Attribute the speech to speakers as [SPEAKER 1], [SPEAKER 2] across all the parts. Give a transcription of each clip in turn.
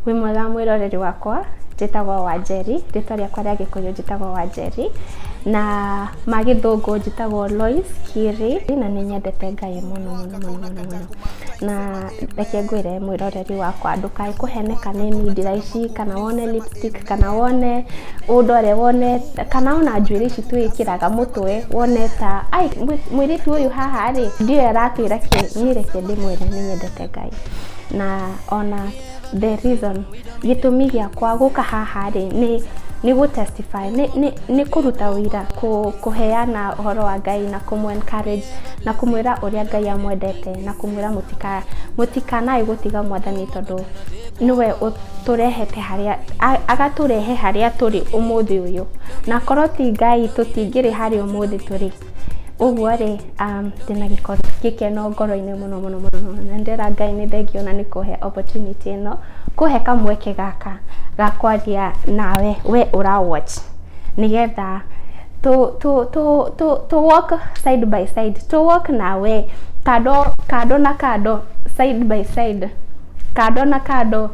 [SPEAKER 1] Wĩ mwega mwĩroreri wakwa, njĩtagwo Wanjeri, rĩtwa rĩakwa rĩa gĩkũyũ njĩtagwo Wanjeri, na ma gĩthũngũ njĩtagwo Lois Kiri, na nĩ nyendete Ngai mũno mũno mũno mũno mũno, na reke ngwĩre mwĩroreri wakwa ndũkae kũheneka nĩ mindira ici, kana wone lipstick, kana wone ũndore, wone kana ona njuĩrĩ ici twĩkĩraga mũtwe, wone ta aĩ mũirĩtu ũyũ haha rĩ, ndiũĩ aratwĩra kĩ, niĩ reke ndĩmwĩre nĩ nyendete Ngai, na ona. The reason, gĩtũmi gĩakwa gũka haha rĩ, nĩ nĩ gũ testify nĩ nĩ nĩ kũruta ũira, kũheana ũhoro wa Ngai na kũmũ encourage na kũmwĩra ũrĩa Ngai amwendete na kũmwĩra mũtika mũtikanae gũtiga mwathani tondũ nĩwe ũtũrehete harĩa agatũrehe harĩa tũrĩ ũmũthĩ ũyũ. Na korwo ti Ngai tũtingĩrĩ harĩa ũmũthĩ tũrĩ. Ũguo rĩ, um, ndĩna gĩkoro- gĩkeno ngoro-inĩ mũno mũno mũno mũno. na ndĩra Ngai nĩ thengio na nĩ kũhe opportunity ĩno, kũhe kamweke gaka ga kwaria nawe we ũra watch nĩgetha tũ tũ tũ tũ tũ walk side by side, tũ walk nawe kando kando na kando, side by side, kando na kando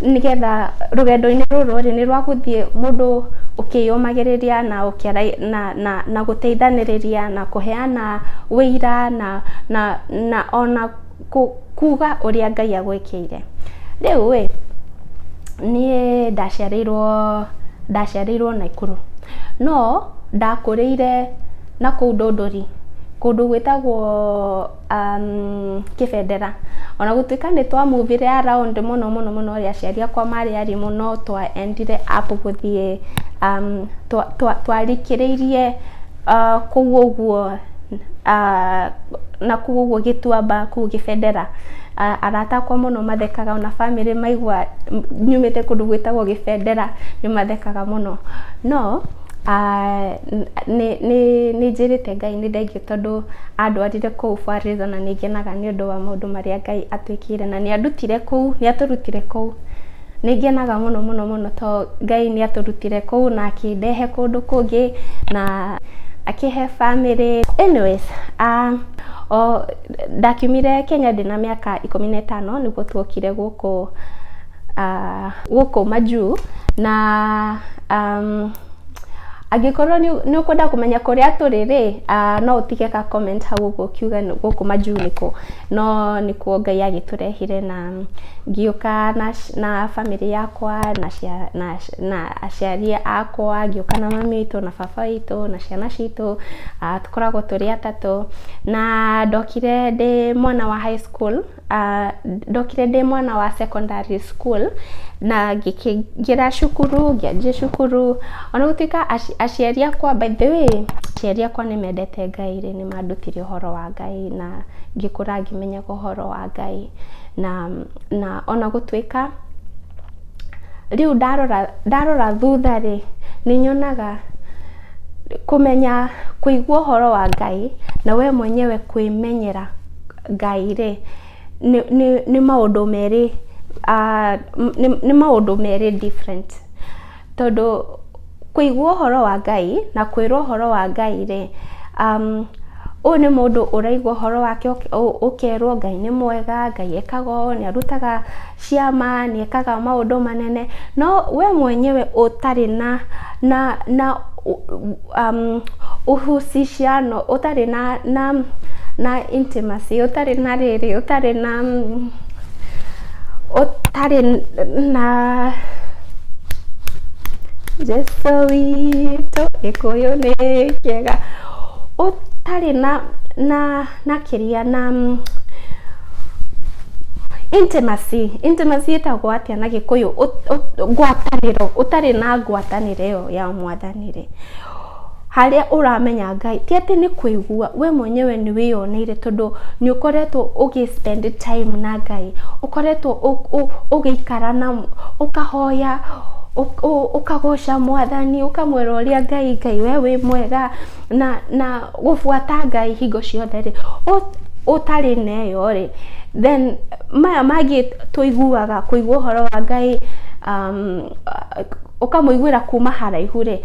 [SPEAKER 1] nĩgetha rũgendo-inĩ rũrũ rĩ, nĩ rwa gũthiĩ mũndũ ũkĩyũmagĩrĩria na ũkĩaragia na... na, na gũteithanĩrĩria na kũheana wĩira na, na, na ona kuga ũrĩa Ngai agwĩkĩire. Rĩu ĩ, niĩ ndaciarĩirwo, ndaciarĩirwo Naikuru, no ndakũrĩire nakũu Ndũndũri, kũndũ gwĩtagwo um, kĩbendera ona gũtuĩka nĩ twa muvire around mũno mũno mũno rĩ aciari akwa marĩ ari mũno twaendire up gũthiĩ um, twa- twa- twarikĩrĩirie uh, kũu ũguo uh, na kũu ũguo gĩtuamba kũu gĩbendera uh, arata akwa mũno mathekaga ona bamĩrĩ maigua m- nyumĩte kũndũ gwĩtagwo gĩbendera nĩ mathekaga mũno no Nĩ nĩ nĩ njĩrĩte Ngai nĩ thengiũ tondũ andwarire kũu Fortaleza na nĩ ngenaga nĩ ũndũ wa maũndũ marĩa Ngai atwĩkĩire na nĩ andutire kũu, nĩ atũrutire kũu. Nĩ ngenaga mũno mũno mũno to Ngai nĩ atũrutire kũu na akĩndehe kũndũ kũngĩ na akĩhe bamĩrĩ. Anyways, ndakiumire Kenya ndĩna mĩaka ikũmi na ĩtano nĩguo twokire gũkũ. uh, gũkũ majuu na um, angĩkorwo nĩ ũkwenda kũmenya kũrĩa tũrĩ rĩ uh, no ũtige ka comment hau ũguo kiuga gũkũ majuu nĩkũ no nĩkuo ngai agĩtũrehire na ngiũka na, na famĩlĩ yakwa na, cia, na, na aciari akwa ngĩũka na mami witũ na baba witũ na ciana citũ uh, tũkoragwo tũrĩ atatũ na ndokire ndĩ mwana wa high school Ndokire ndĩ mwana wa secondary school na ngĩkĩingĩra cukuru, ngĩanjia cukuru, ona gũtuĩka aciari akwa by the way aciari akwa nĩ mendete Ngai rĩ, nĩ mandutire ũhoro wa Ngai na ngĩkũra ngĩmenyaga ũhoro wa Ngai. Na na ona gũtuĩka rĩu ndarora ndarora thutha rĩ, nĩ nyonaga kũmenya kũigua ũhoro wa Ngai na we mwenyewe kwĩmenyera... Ngai-rĩ, nĩ nĩ nĩ maũndũ merĩ nĩ nĩ maũndũ merĩ different tondũ kũigua ũhoro wa Ngai na kwĩrwo ũhoro wa Ngai-rĩ, ũyũ nĩ mũndũ ũraigua ũhoro wake ũkerwo Ngai nĩ mwega, Ngai ekaga ũũ, nĩ arutaga. ciama, nĩ ekaga maũndũ manene, no we mwenyewe ũtarĩ na na na ũhusishano ũtarĩ na na na intimacy ũtarĩ na rĩrĩ, ũtarĩ na ũtarĩ na Jesũ witũ, gĩkũyũ nĩ kĩega, ũtarĩ na na... na kĩria na intimacy intimacy ĩtagwo atĩa na gĩkũyũ ngwatanĩro ũtarĩ na ngwatanĩro ĩyo ya mwathani rĩ harĩa ũramenya ngai ti atĩ nĩ kũigua we mwenyewe nĩ wĩyoneire tondũ nĩ ũkoretwo ũgĩ spend time na ngai ũkoretwo ũgĩikara na ũkahoya ũkagoca mwathani ũkamwĩra ũrĩa ngai ngai we wĩ mwega na na Gũbuata Ngai hingo ciothe rĩ, ũtarĩ na ĩyo rĩ, then maya mangĩ tũiguaga, kũigua ũhoro wa Ngai, ũkamũiguĩra kuma haraihu rĩ,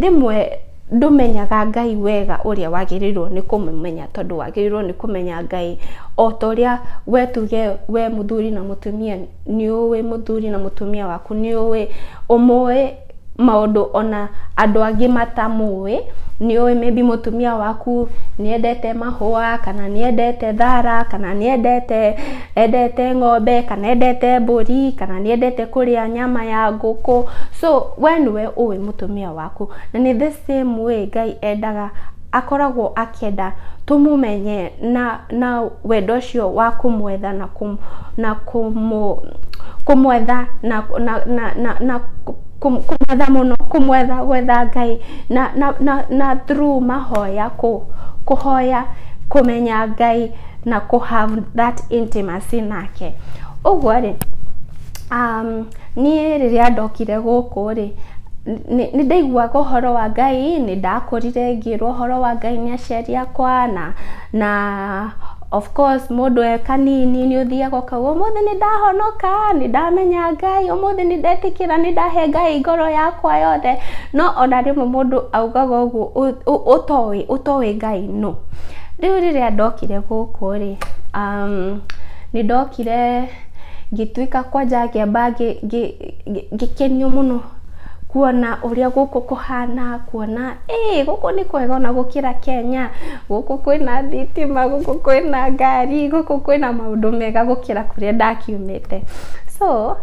[SPEAKER 1] rĩmwe ndũmenyaga Ngai wega ũrĩa wagĩrĩirwo nĩ kũmũmenya tondũ wagĩrĩirwo nĩ kũmenya Ngai o ta ũrĩa we tuge we mũthuri na mũtumia nĩ ũwĩ mũthuri na mũtumia waku nĩ ũwĩ, ũmũwĩ. maũndũ ona andũ angĩ matamũĩ, nĩ ũĩ maybe mũtumia waku nĩ endete mahũa, kana nĩ endete thara, kana nĩ endete endete ng'ombe, kana endete mbũri, kana nĩ endete kũrĩa nyama ya ngũkũ, so we nĩwe ũĩ mũtumia waku, na nĩ the same way Ngai endaga. akoragwo akĩenda tũmũmenye na, na wendo ũcio wa kũmwetha na, kũm, na kũmũ, kũmwetha na, na, na, na, na kũm, kũmwetha mũno, kũmwetha gwetha Ngai na, na, na, na through mahoya, kũ, kũhoya kũmenya Ngai na kũ have that intimacy nake. Ũguo rĩ, umm Niĩ rĩrĩa ndokire gũkũ rĩ, nĩ ndaiguaga ũhoro wa Ngai, nĩ ndakũrire ngĩĩrwo ũhoro wa Ngai nĩ aciari akwa na of course mũndũ e kanini nĩ ũthiaga ũkauga ũmũthĩ nĩ ndahonoka, nĩ ndamenya Ngai, ũmũthĩ nĩ ndetĩkĩra, nĩ ndahe Ngai ngoro yakwa yothe. No ona rĩmwe mũndũ augaga ũguo ũtoĩ, ũtoĩ Ngai nũ. Rĩu rĩrĩa ndokire gũkũ rĩ, nĩ ndokire... ngĩtuĩka kwanja ngĩamba ngĩkenio mũno kuona ũrĩa gũkũ kũhana, kuona ĩĩ gũkũ nĩ kwega ona gũkĩra Kenya, gũkũ kwĩna thitima, gũkũ kwĩna ngari, gũkũ kwĩna maũndũ mega gũkĩra kũrĩa ndakiumĩte. So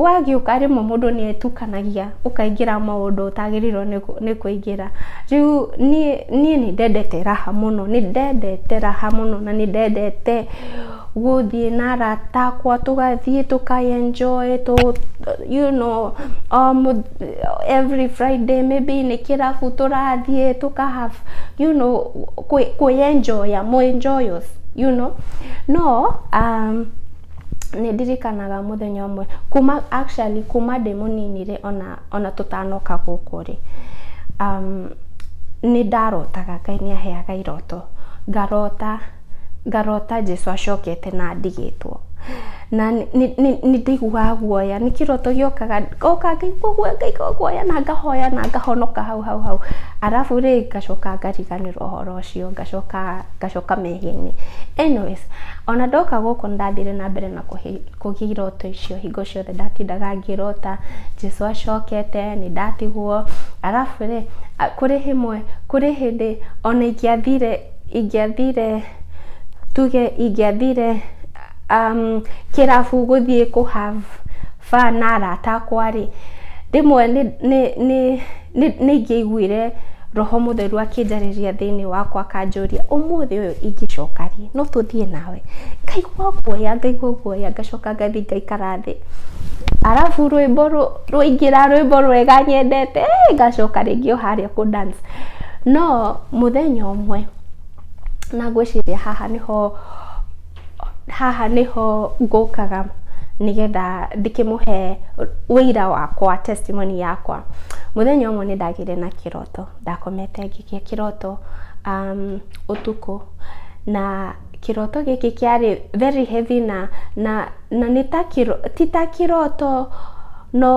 [SPEAKER 1] wagĩũka rĩmwe mũndũ nĩ etukanagia ũkaingĩra maũndũ ũtagĩrĩirwo nĩ kũingĩra. Rĩu niĩ nĩ ndendete raha mũno, nĩ ndendete raha mũno na nĩ ndendete... gũthiĩ na arata akwa tũgathiĩ tũka enjoy you know every Friday maybe nĩ kĩrabu tũrathiĩ tũka have you know kwĩ enjoy a mũ enjoy us you know no nĩ ndirikanaga mũthenya ũmwe kuma actually kuma ndĩ mũnini rĩ ona tũtanoka gũkũ rĩ nĩ ndarotaga Ngai nĩ aheaga iroto ngarota. ngarota Jesũ acokete na ndigĩtwo na nĩndĩiguaga guoya, nĩ kĩroto gĩũkaga ngoka ngaigua guoya ngaigua guoya na ngahoya na ngahonoka hau hau hau, arabu rĩ ngacoka ngariganĩrwo ũhoro ũcio ngacoka ngacoka mehia-inĩ. Anyways ona ndoka gũkũ nĩndathire na mbere na kũgĩa iroto icio hingo ciothe ndatindaga ngĩrota Jesũ acokete, nĩndatigwo, arabu rĩ kũrĩ hĩndĩ ona ingĩathire Ingĩathire, tuge ingĩathire kĩrabu gũthiĩ kũ have fun na arata akwa rĩ, rĩmwe nĩ ingĩaiguire roho mũtheru akĩnjarĩria thĩinĩ wakwa akanjũria ũmũthĩ ũyũ ingĩcoka rĩ no tũthiĩ nawe? Ngaigua guoya ngaigua guoya ngacoka ngathiĩ ngaikara thĩ. Arabu rwĩmbo rũu rwaingĩra rwĩmbo rwega nyendete ngacoka rĩngĩ o harĩa kũ dance. No mũthenya ũmwe, na ngwĩciria haha nĩho, haha nĩho ngũkaga nĩgetha ndĩkĩmũhe ũira wakwa, testimony yakwa. Mũthenya ũmwe nĩ ndagĩire na kĩroto, ndakomete ngĩgĩa kĩroto ũtukũ na... Kĩroto gĩkĩ kĩarĩ very heavy na, na, na nĩ ta kĩro, ti ta kĩroto no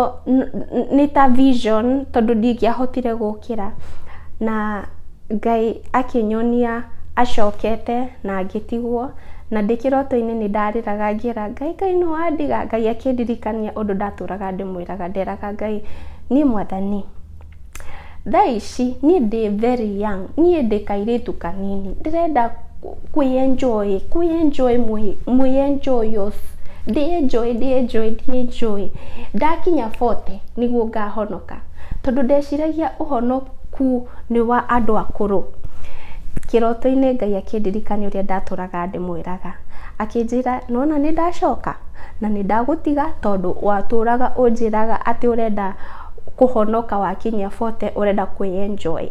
[SPEAKER 1] nĩ ta vision tondũ ndingĩahotire gũkĩra. Na Ngai akĩnyonia acokete na ngĩtigwo, na ndĩ kĩroto-inĩ nĩ ndarĩraga ngĩra Ngai kaĩ nĩ wandiga? Ngai akĩndirikania ũndũ ndatũraga ndĩmwĩraga, nderaga Ngai niĩ Mwathani, Thaa ici niĩ ndĩ very young, niĩ ndĩ kairĩtu kanini, ndĩrenda kwĩ enjoy, kwĩ enjoy mwĩ enjoy off, ndĩ enjoy, ndĩ enjoy, ndĩ enjoy. Ndakinya forty nĩguo ngahonoka, tondũ ndeciragia ũhonoku nĩ wa andũ akũrũ. Kĩroto-inĩ Ngai akĩndirikania ũrĩa ndatũraga ndĩmwĩraga, akĩnjĩra nĩwona nĩndacoka na nĩndagũtiga tondũ watũraga ũnjĩraga atĩ ũrenda kũhonoka wakinyia bote ũrenda kwĩ enjoy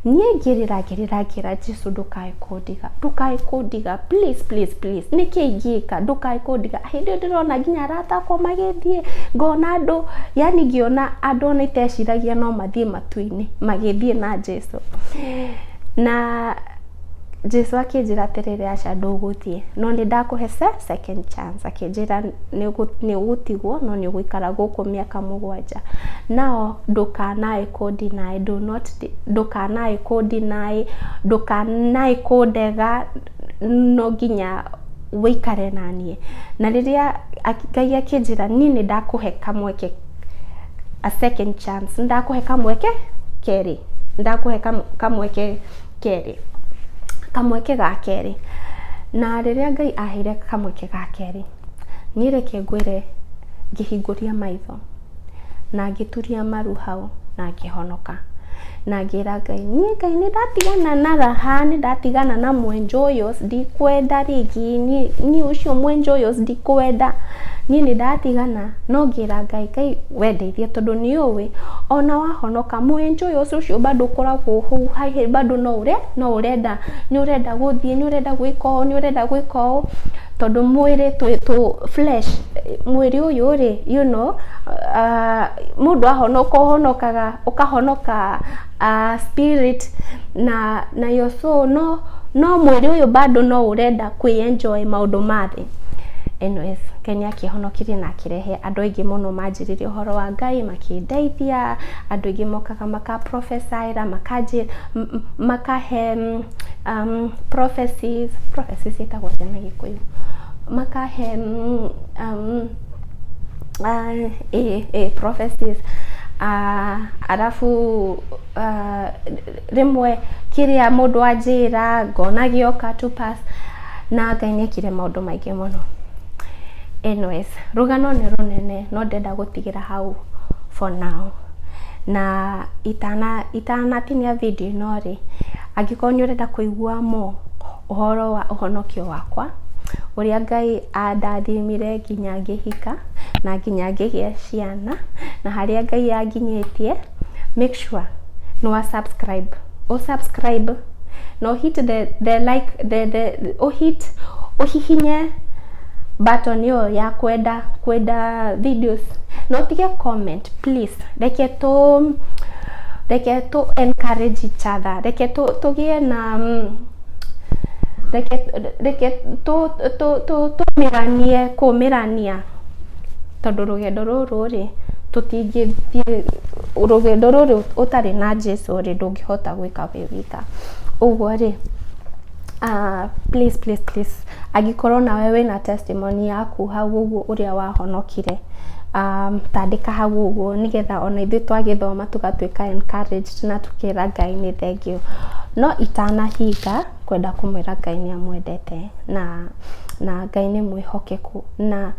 [SPEAKER 1] niĩ ngĩrĩra ngĩrĩra ngĩra Jesu ndũkae kũndiga ndũkae kũndiga please please please nĩkĩ ingĩka ndũkae kũndiga hĩndĩ ĩyo ndĩrona nginya arata akwa magĩthiĩ ngona andũ yani ngĩona andũ ona iteciragia no mathiĩ matu-inĩ magĩthiĩ na Jesu na Jesu akĩnjĩra atĩrĩrĩ, aca ndũgũthiĩ, no nĩ ndakũhe second chance. Akĩnjĩra nĩ ũgũtigwo no nĩ ũgũikara gũkũ mĩaka mũgwanja. Now ndũkanae kũ deny, do not deny, ndũkanae kũ deny, ndũkanae kũndega, no nginya ũikare na niĩ. Na rĩrĩa Ngai akĩnjĩra niĩ nĩ ndakũhe kamweke, a second chance, nĩ ndakũhe kamweke kerĩ, nĩ ndakũhe kamweke... kerĩ, kamweke ga kerĩ, na rĩrĩa Ngai aheire kamweke ga kerĩ, niĩ reke ngwĩre ngĩhingũria maitho na ngĩturia maru hau na ngĩhonoka, na ngĩra Ngai, niĩ Ngai nĩ ndatigana na raha, nĩ ndatigana na mwenja ũyũ, ndikwenda rĩngĩ, niĩ ũcio mwenja ũyũ ndikwenda, niĩ nĩ ndatigana, no ngĩra Ngai, Ngai we ndeithia tondũ nĩ ũĩ ona wahonoka. kamu enjoy ũcio ũcio bado ũkoragwo hau hahe bado no ũre no ũrenda nĩ ũrenda gũthiĩ nĩ ũrenda gwĩka ũũ nĩ ũrenda gwĩka ũũ tondũ mwĩrĩ twĩ tũ flesh mwĩrĩ ũyũ rĩ you know uh, mũndũ ahonoka ũhonokaga ũkahonoka uh, spirit na na your soul no no mwĩrĩ ũyũ bado no ũrenda kwĩ enjoy maũndũ ma thĩ Anyways, Ngai nĩ akĩhonokirie na akĩrehe andũ aingĩ mũno manjĩrĩria ũhoro wa Ngai, makĩndeithia, andũ aingĩ mokaga maka prophesy-ra, makanjĩ, m- m- makahe mm, um, prophecies, prophecies ciĩtagwo atĩa na gĩkũyũ? Makahe mm, um, Ah, ĩĩ, ĩĩ, prophecies. Ah, arabu ah, rĩmwe kĩrĩa mũndũ anjĩra ngona gĩoka tu pass na Ngai nĩ ekire maũndũ maingĩ mũno. Anyways, rũgano nĩ rũnene no ndĩrenda gũtigĩra hau for now. Na itana itanatinia video ĩno rĩ, angĩkorwo nĩ ũrenda kũigua more ũhoro wa ũhonokio wakwa, ũrĩa Ngai andathimire nginya ngĩhika na nginya ngĩgĩa ciana, na harĩa Ngai anginyĩtie, make sure nĩ wa subscribe, ũ subscribe na ũ hit the like, ũ hit, ũhihinye button ĩyo ya kwenda, kwenda videos na ũtige comment please reke tũ reke tũ encourage each other reke tũgĩe na mm, reke reke tũmĩranie kũmĩrania tondũ rũgendo rũrũ rĩ tũtingĩthiĩ rũgendo rũrũ ũtarĩ na Jesu rĩ ndũngĩhota gwĩka wĩ wika ũguo rĩ Ah please please please angĩkorwo nawe wĩna testimony yaku hau ũguo ũrĩa wahonokire, ah ta andĩka hau ũguo nĩgetha ona ithuĩ twagĩthoma tũgatuĩka encouraged na tũkera Ngai nĩ thengiũ. No itanahinga, ngwenda kũmwĩra Ngai nĩ amwendete na na Ngai nĩ mwĩhokeku. Na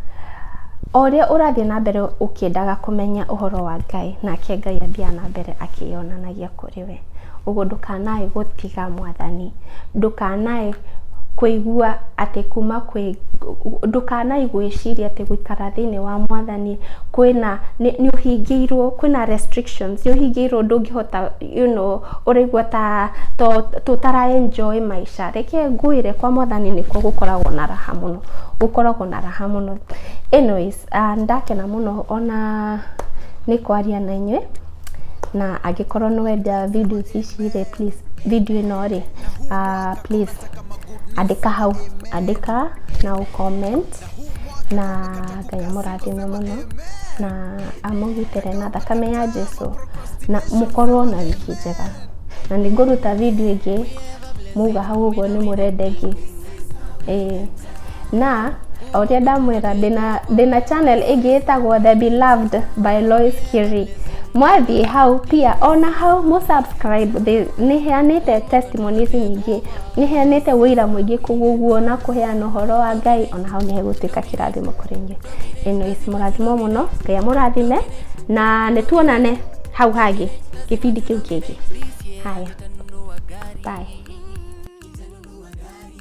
[SPEAKER 1] o ũrĩa ũrathiĩ na mbere ũkĩendaga kũmenya ũhoro wa Ngai, nake Ngai athiaga na mbere akĩyonanagia kũrĩ we. we, ũguo ndũkanae gũtiga mwathani, ndũkanae kũigua atĩ kuma kwĩ, ndũkanae gwĩciria atĩ gũikara thĩiniĩ wa mwathani kwĩna, nĩ ũhingĩirwo, kwĩna restrictions, nĩ ũhingĩirwo ndũngĩhota you know ũraigua ta ũtara enjoy maica, reke ngwĩre kwa mwathani nĩkuo gũkoragwo na raha mũno, gũkoragwo na raha mũno. Anyways nĩ ndakena mũno ona nĩ kwaria na inyuĩ. Na angĩkorwo nĩ wenda video ici rĩ, please video ĩno rĩ, please andĩka hau, andĩka na ũ comment na Ngai amũrathime mũno na amũgitĩre na thakame ya Jesũ na mũkorwo na wiki njega. Na nĩ ngũruta video ĩngĩ mwauga hau ũguo nĩ mũrenda ĩngĩ. Ĩĩ. na o ũrĩa ndamwĩra ndĩna ndĩna channel ĩngĩ ĩtagwo the beloved by Lois Kiri mwathiĩ hau pia ona hau mũ subscribe thĩ- nĩheanĩte testimonies nyingĩ nĩheanĩte wĩira mũingĩ koguo na kũheana ũhoro wa Ngai ona hau nĩhegũtuĩka kĩrathimo kũrĩ inyuĩ anyways mũrathimwo mũno Ngai amũrathime na nĩtuonane hau hangĩ kĩbindi kĩu kĩngĩ haya bye